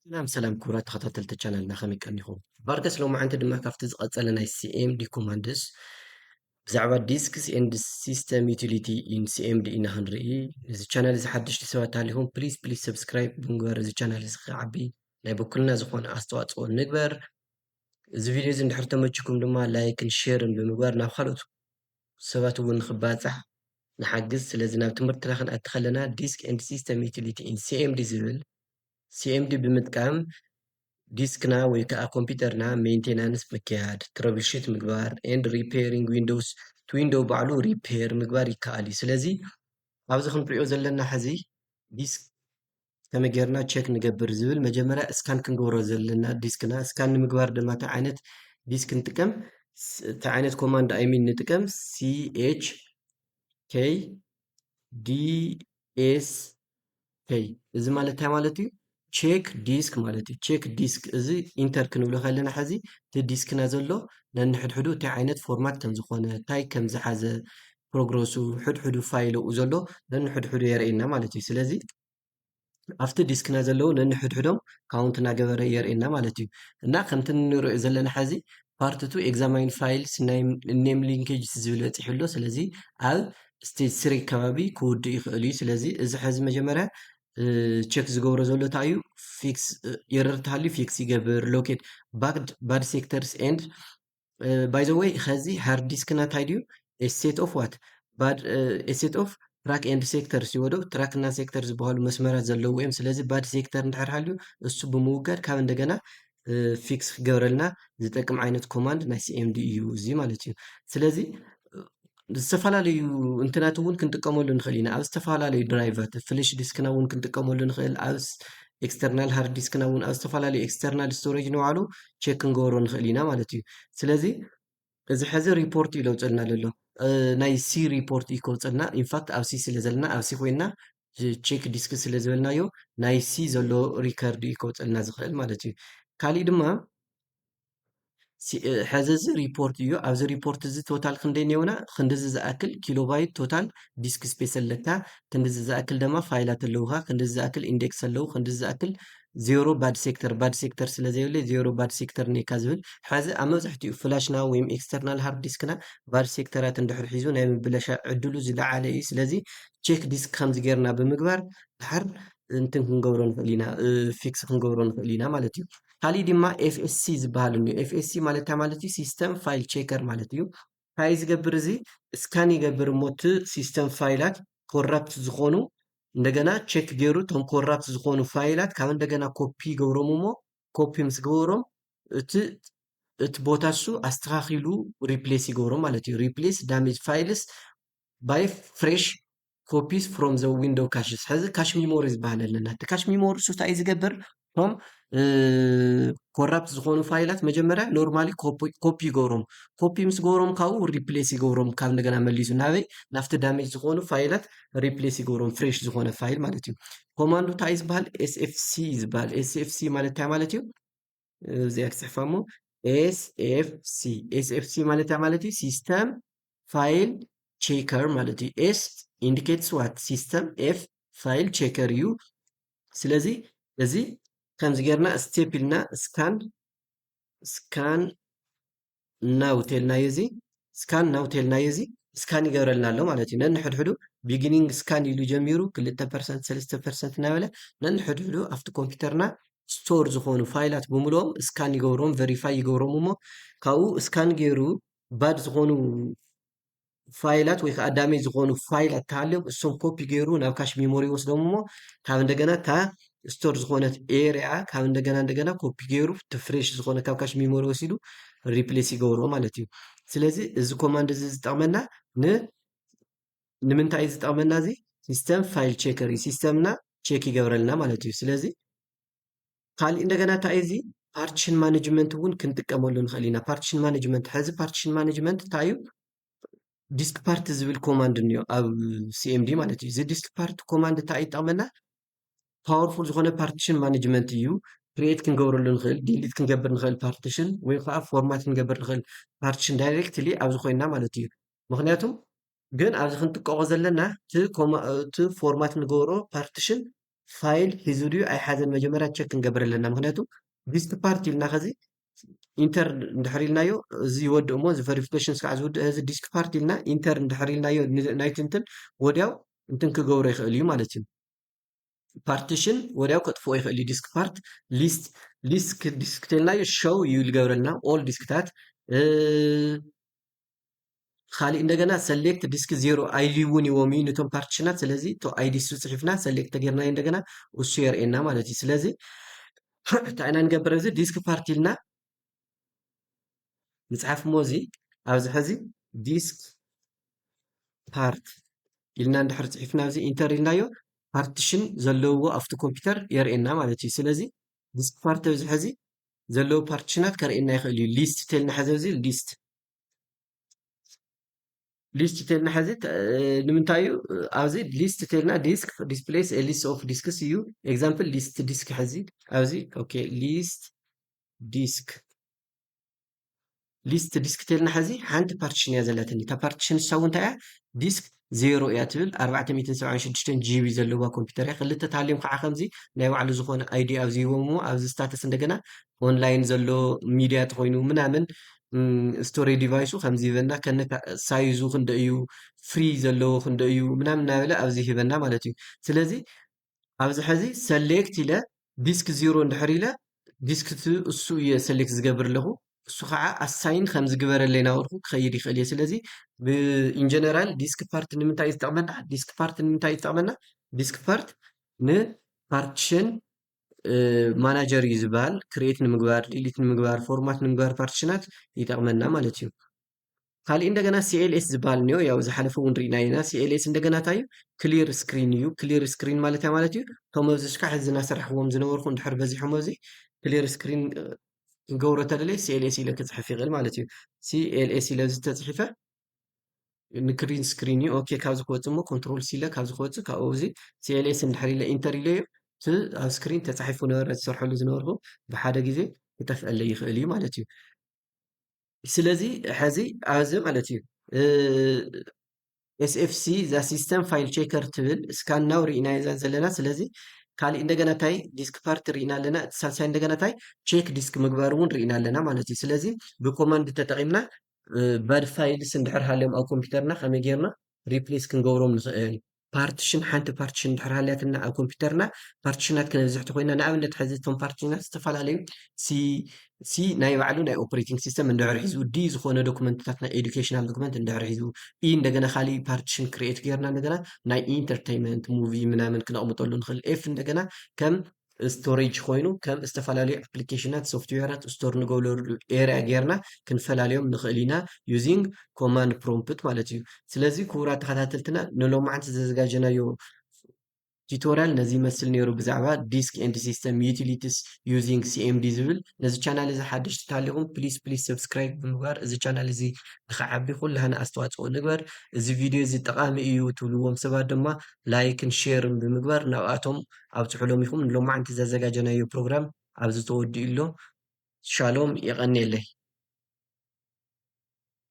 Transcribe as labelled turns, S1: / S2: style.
S1: ሰላም ሰላም ክቡራት ተኸታተልቲ ቻናልና ከመይ ቀኒኹም? ቫርገስ ሎማዓንቲ ድማ ካብቲ ዝቐጸለ ናይ ሲኤምዲ ኮማንድስ ብዛዕባ ዲስክስ ኤንድ ሲስተም ዩቲሊቲ ኢን ሲኤምዲ ኢና ክንርኢ። እዚ ቻናል እዚ ሓደሽቲ ሰባት ተሃሊኹም ፕሊዝ ፕሊዝ ሰብስክራይብ ብምግባር እዚ ቻናል እዚ ክዓቢ ናይ በኩልና ዝኾነ ኣስተዋፅኦ ንግበር። እዚ ቪድዮ እዚ እንድሕር ተመችኩም ድማ ላይክን ሼርን ብምግባር ናብ ካልኦት ሰባት እውን ንኽባፃሕ ንሓግዝ። ስለዚ ናብ ትምህርትና ክንኣቲ ከለና ዲስክ ኤንድ ሲስተም ዩቲሊቲ ኢን ሲኤምዲ ዝብል ሲኤምዲ ብምጥቃም ዲስክና ወይ ከዓ ኮምፒውተርና ሜንቴናንስ ምክያድ፣ ትረብል ሹት ምግባር፣ ኤንድ ሪፔሪንግ ዊንዶውስ እቲ ዊንዶው ባዕሉ ሪፔር ምግባር ይከኣል እዩ። ስለዚ ኣብዚ ክንሪኦ ዘለና ሕዚ ዲስክ ከመይ ጌርና ቸክ ንገብር ዝብል መጀመርያ እስካን ክንገብሮ ዘለና ዲስክና እስካን ንምግባር ድማ እቲ ዓይነት ዲስክ ንጥቀም እቲ ዓይነት ኮማንድ ኣይሚን ንጥቀም ሲኤች ኬይ ዲኤስ ኬይ እዚ ማለት እንታይ ማለት እዩ ቼክ ዲስክ ማለት እዩ ቼክ ዲስክ እዚ ኢንተር ክንብሎ ከለና ሕዚ እቲ ዲስክና ዘሎ ነንሕድሕዱ እንታይ ዓይነት ፎርማት ከም ዝኾነ እንታይ ከም ዝሓዘ ፕሮግረሱ ሕድሕዱ ፋይል ኣብኡ ዘሎ ነንሕድሕዱ የርእየና ማለት እዩ ስለዚ ኣብቲ ዲስክና ዘለዉ ነንሕድሕዶም ካውንት እናገበረ የርእየና ማለት እዩ እና ከምቲ ንሪኦ ዘለና ሕዚ ፓርት ቱ ኤግዛማይን ፋይልስ ናይ ኔም ሊንኬጅስ ዝብል በፂሑ ኣሎ ስለዚ ኣብ ስቴጅ ስሪ ከባቢ ክውድእ ይኽእል እዩ ስለዚ እዚ ሕዚ መጀመርያ ቼክ ዝገብሮ ዘሎ እንታይ እዩ ፊክስ ኤረር ተሃልዩ ፊክስ ይገብር ሎኬት ባድ ሴክተርስ ኤንድ ባይ ዘ ወይ ከዚ ሃርድ ዲስክና እንታይ ድዩ ሴት ኦፍ ዋት ባድ ሴት ኦፍ ትራክ ኤንድ ሴክተር ሲወዶ ትራክ እና ሴክተር ዝበሃሉ መስመራት ዘለዎ እዮም ስለዚ ባድ ሴክተር እንድሕር ሃልዩ እሱ ብምውጋድ ካብ እንደገና ፊክስ ክገብረልና ዝጠቅም ዓይነት ኮማንድ ናይ ሲኤምዲ እዩ እዚ ማለት እዩ ስለዚ ዝተፈላለዩ እንትናት እውን ክንጥቀመሉ ንኽእል ኢና። ኣብ ዝተፈላለዩ ድራይቫት ፍለሽ ዲስክና እውን ክንጥቀመሉ ንኽእል ኣብ ኤክስተርናል ሃርድ ዲስክና እውን ኣብ ዝተፈላለዩ ኤክስተርናል ስቶሬጅ ንባዕሉ ቼክ ክንገብሮ ንኽእል ኢና ማለት እዩ። ስለዚ እዚ ሕዚ ሪፖርት እዩ ለውፀልና ዘሎ ናይ ሲ ሪፖርት እዩ ከውፀልና ኢንፋክት ኣብ ሲ ስለ ዘለና ኣብ ሲ ኮይና ቼክ ዲስክ ስለ ዝበልናዮ ናይ ሲ ዘሎ ሪከርድ እዩ ከውፀልና ዝኽእል ማለት እዩ። ካሊእ ድማ ሕዚ እዚ ሪፖርት እዩ ኣብዚ ሪፖርት እዚ ቶታል ክንደይ ነውና ክንዲዚ ዝኣክል ኪሎባይት ቶታል ዲስክ ስፔስ ኣለካ ክንዲዚ ዝኣክል ደማ ፋይላት ኣለውካ ክንዲዚ ዝኣክል ኢንዴክስ ኣለዉ ክንዲዚ ዝኣክል ዜሮ ባድ ሴክተር ባድ ሴክተር ስለ ዘይብለ ዜሮ ባድ ሴክተር ኔካ ዝብል ሕዚ ኣብ መብዛሕትኡ ፍላሽና ወይ ኤክስተርናል ሃርድ ዲስክና ባድ ሴክተራት እንድሕር ሒዙ ናይ ምብለሻ ዕድሉ ዝለዓለ እዩ ስለዚ ቼክ ዲስክ ከምዚ ጌርና ብምግባር ድሓር እንትን ክንገብሮ ንኽእል ኢና ፊክስ ክንገብሮ ንኽእል ኢና ማለት እዩ ካሊእ ድማ ኤፍኤስሲ ዝበሃል እኒኦ ኤፍኤስሲ ማለት እንታይ ማለት እዩ ሲስተም ፋይል ቼከር ማለት እዩ እንታይ ዝገብር እዚ እስካን ይገብር እሞ እቲ ሲስተም ፋይላት ኮራፕት ዝኾኑ እንደገና ቼክ ገይሩ እቶም ኮራፕት ዝኾኑ ፋይላት ካብ እንደገና ኮፒ ይገብሮም እሞ ኮፒ ምስ ገበሮም እቲ እቲ ቦታ እሱ ኣስተኻኺሉ ሪፕሌስ ይገብሮ ማለት እዩ ሪፕሌስ ዳሜጅ ፋይልስ ባይ ፍሬሽ ኮፒስ ፍሮም ዘ ዊንዶው ካሽስ ሕዚ ካሽ ሚሞሪ ዝበሃል ኣለና እቲ ካሽ ሚሞሪ ሱ እንታይ እዩ ዝገብር ቶም ኮራፕት ዝኾኑ ፋይላት መጀመርያ ኖርማሊ ኮፒ ይገብሮም ኮፒ ምስ ገብሮም ካብኡ ሪፕሌስ ይገብሮም ካብ እንደገና መሊሱ ናበይ ናብቲ ዳሜጅ ዝኾኑ ፋይላት ሪፕሌስ ይገብሮም ፍሬሽ ዝኾነ ፋይል ማለት እዩ ኮማንዱ እንታይ ዝበሃል ኤስኤፍሲ ዝበሃል ኤስኤፍሲ ማለት እንታይ ማለት እዩ እዚኣ ክፅሕፋ እሞ ኤስኤፍሲ ኤስኤፍሲ ማለት ማለት እዩ ሲስተም ፋይል ቼከር ማለት እዩ ኤስ ኢንዲኬትስ ዋት ሲስተም ኤፍ ፋይል ቼከር እዩ ስለዚ እዚ ከምዚ ጌርና ስቴፕ ኢልና ስካን ስካን ናው ቴልናዮ እዚ ስካን ናው ቴልናዮ እዚ ስካን ይገብረልና ኣሎ ማለት እዩ ነንሕድሕዱ ቢግኒንግ ስካን ኢሉ ጀሚሩ ክልተ ፐርሰንት ሰለስተ ፐርሰንት እናበለ ነንሕድሕዱ ኣብቲ ኮምፒውተርና ስቶር ዝኾኑ ፋይላት ብምልኦም ስካን ይገብሮም ቨሪፋይ ይገብሮም እሞ ካብኡ ስካን ገይሩ ባድ ዝኾኑ ፋይላት ወይ ከዓ ዳሜጅ ዝኾኑ ፋይላት ተሃልዮም እሶም ኮፒ ገይሩ ናብ ካሽ ሜሞሪ ይወስዶም እሞ ካብ እንደገና እታ ስቶር ዝኾነት ኤሪያ ካብ እንደገና እንደገና ኮፒ ገይሩ ፍሬሽ ዝኾነ ካብ ካሽ ሜሞሪ ወሲዱ ሪፕሌስ ይገብሮ ማለት እዩ ስለዚ እዚ ኮማንድ እዚ ዝጠቕመና ን ንምንታይ ዝጠቕመና እዚ ሲስተም ፋይል ቼከር እዩ ሲስተምና ቼክ ይገብረልና ማለት እዩ ስለዚ ካሊእ እንደገና እንታይ እዩ እዚ ፓርቲሽን ማኔጅመንት እውን ክንጥቀመሉ ንኽእል ኢና። ፓርቲሽን ማኔጅመንት ሕዚ ፓርቲሽን ማኔጅመንት እንታይ እዩ? ዲስክ ፓርቲ ዝብል ኮማንድ እኒኦ ኣብ ሲኤምዲ ማለት እዩ። እዚ ዲስክ ፓርቲ ኮማንድ እንታይ እዩ ይጠቕመና? ፓወርፉል ዝኾነ ፓርቲሽን ማኔጅመንት እዩ። ክሬት ክንገብረሉ ንኽእል፣ ዲሊት ክንገብር ንኽእል ፓርቲሽን ወይ ከዓ ፎርማት ክንገብር ንኽእል ፓርቲሽን ዳይሬክትሊ ኣብዚ ኮይና ማለት እዩ። ምክንያቱ ግን ኣብዚ ክንጥቀቆ ዘለና እቲ ፎርማት ንገብሮ ፓርቲሽን ፋይል ሒዙ ድዩ ኣይሓዘን መጀመርያ ቸክ ክንገብር ኣለና ምክንያቱ ዲስክ ፓርት ኢልና ከዚ ኢንተር እንድሕር ኢልናዮ እዚ ይወድእ እሞ እዚ ቨሪፊኬሽን ስካዕ ዝውድእ እዚ ዲስክ ፓርት ኢልና ኢንተር እንድሕር ኢልናዮ ናይቲ እንትን ወዲያው እንትን ክገብሮ ይኽእል እዩ ማለት እዩ ፓርቲሽን ወዲያው ከጥፍኦ ይኽእል እዩ ዲስክ ፓርት ሊስት ሊስት ዲስክ ተልናዮ ሸው እዩ ዝገብረልና ኦል ዲስክታት ኻሊእ እንደገና ሰሌክት ዲስክ ዜሮ ኣይልዩ እውን ይዎም እዩ ንቶም ፓርቲሽናት ስለዚ እቶ ኣይዲ እሱ ፅሒፍና ሰሌክት ተጌርናዮ እንደገና እሱ የርእየና ማለት እዩ ስለዚ እንታይ ኢና ንገብር እዚ ዲስክ ፓርቲ ኢልና ንፅሓፍ እሞ እዚ ኣብዚ ሕዚ ዲስክ ፓርት ኢልና እንድሕር ፅሒፍና እዚ ኢንተር ኢልናዮ ፓርቲሽን ዘለዎ ኣብቲ ኮምፒውተር የርእየና ማለት እዩ ስለዚ ዲስክ ፓርቲ ኣብዚ ሕዚ ዘለዎ ፓርቲሽናት ከርእየና ይኽእል እዩ ሊስት ተልና ሕዚ እዚ ሊስት ሊስት ተልና ሕዚ ንምንታይ እዩ ኣብዚ ሊስት ተልና ዲስክ ዲስፕሌስ ሊስት ኦፍ ዲስክስ እዩ ኤግዛምፕል ሊስት ዲስክ ሕዚ ኣብዚ ኦኬ ሊስት ዲስክ ሊስት ዲስክ ተልና ሕዚ ሓንቲ ፓርቲሽን እያ ዘለትኒ እታ ፓርቲሽን ንሳ እውን እንታይ እያ ዲስክ ዜሮ እያ ትብል ኣርባዕተ ሚእትን ሰብዓን ሽዱሽተን ጂቢ ዘለዋ ኮምፒተር እያ ክልተ ታሊም ከዓ ከምዚ ናይ ባዕሉ ዝኾነ ኣይዲ ኣብዚ ሂቦም እሞ ኣብዚ ስታተስ እንደገና ኦንላይን ዘሎ ሚድያ ተኾይኑ ምናምን ስቶሬ ዲቫይሱ ከምዚ ይበና ከነ ሳይዙ ክንደ እዩ ፍሪ ዘለዎ ክንደ እዩ ምናምን እናበለ ኣብዚ ሂበና ማለት እዩ ስለዚ ኣብዚ ሐዚ ሰሌክት ኢለ ዲስክ ዚሮ እንድሕር ኢለ ዲስክ ቱ እሱ እየ ሰሌክት ዝገብር ኣለኹ እሱ ከዓ ኣሳይን ከም ዝግበረለይ ናበልኩ ክኸይድ ይኽእል እየ ስለዚ ብኢንጀነራል ዲስክ ፓርት ንምንታይ እዩ ዝጠቕመና ዲስክ ፓርት ንምንታይ እዩ ዝጠቕመና ዲስክ ፓርት ንፓርቲሽን ማናጀር እዩ ዝበሃል ክሬት ንምግባር ዲሊት ንምግባር ፎርማት ንምግባር ፓርቲሽናት ይጠቕመና ማለት እዩ ካልእ እንደገና ሲኤልኤስ ዝበሃል እኒኦ ያው ዝሓለፈ እውን ርኢና ኢና ሲኤልኤስ እንደገና እንታይ እዩ ክሊር ስክሪን እዩ ክሊር ስክሪን ማለት ያ ማለት እዩ እቶም ኣብዚ ሽካዕ እዚ እናሰራሕዎም ዝነበርኩ እንድሕር በዚሖም ኣብዚ ክሊር ስክሪን ክገብሮ ተደለየ ሲኤልኤስ ኢለ ክፅሕፍ ይኽእል ማለት እዩ ሲኤልኤስ ኢለ እዚ ተፅሒፈ ንክሪን ስክሪን እዩ ኦኬ ካብዚ ክወፅእ እሞ ኮንትሮል ሲለ ካብዚ ክወፅእ ካብኡ እዚ ሲኤልኤስ እንድሕር ኢለ ኢንተር ኢለ እዩ እቲ ኣብ ስክሪን ተፃሒፉ ነበረ ዝሰርሐሉ ዝነበርኩ ብሓደ ግዜ ክጠፍአለይ ይኽእል እዩ ማለት እዩ ስለዚ ሐዚ ኣዚ ማለት እዩ ኤስኤፍሲ እዛ ሲስተም ፋይል ቼከር ትብል ስካን ናው ርኢናዮ እዛ ዘለና ስለዚ ካሊእ እንደገና እንታይ ዲስክ ፓርቲ ርኢና ኣለና እቲ ሳልሳይ እንደገና እንታይ ቼክ ዲስክ ምግባር እውን ርኢና ኣለና ማለት እዩ ስለዚ ብኮማንድ ተጠቂምና ባድ ፋይልስ እንድሕር ሃልዮም ኣብ ኮምፒውተርና ከመይ ጌርና ሪፕሌስ ክንገብሮም ንኽእል ፓርቲሽን ሓንቲ ፓርቲሽን ድሕር ሃልያትና ኣብ ኮምፒውተርና ፓርቲሽናት ክነብዝሕ ተኮይና ንኣብነት ሕዚ እቶም ፓርቲሽናት ዝተፈላለዩ ሲ ሲ ናይ ባዕሉ ናይ ኦፕሬቲንግ ሲስተም እንድሕር ሒዙ ዲ ዝኾነ ዶክመንትታት ናይ ኤዱኬሽናል ዶክመንት እንድሕር ሒዙ ኢ እንደገና ካሊእ ፓርቲሽን ክሪኤት ጌርና እንደገና ናይ ኢንተርቴይንመንት ሙቪ ምናምን ክነቕምጠሉ ንኽእል ኤፍ እንደገና ከም ስቶሬጅ ኮይኑ ከም ዝተፈላለዩ ኣፕሊኬሽናት ሶፍትዌራት ስቶር ንገብረሉ ኤርያ ጌርና ክንፈላልዮም ንኽእል ኢና ዩዚንግ ኮማንድ ፕሮምፕት ማለት እዩ። ስለዚ ክቡራት ተኸታተልትና ንሎማዓንቲ ዘዘጋጀናዮ ቲቶሪያል ነዚ ይመስል ነይሩ ብዛዕባ ዲስክ ኤንድ ሲስተም ዩቲሊቲስ ዩዚንግ ሲኤምዲ ዝብል ነዚ ቻናል እዚ ሓደሽቲ ተሃሊኹም ፕሊስ ፕሊስ ሰብስክራይብ ብምግባር እዚ ቻናል እዚ ንክዓቢ ኩላህና ኣስተዋፅኦ ንግበር እዚ ቪድዮ እዚ ጠቓሚ እዩ ትብልዎም ሰባት ድማ ላይክን ሼርን ብምግባር ናብኣቶም ኣብጽሑ ሎሚኹም ንሎማዓንቲ ዘዘጋጀናዮ ፕሮግራም ኣብዚ ተወዲኡ ኣሎ ሻሎም የቀንየለይ።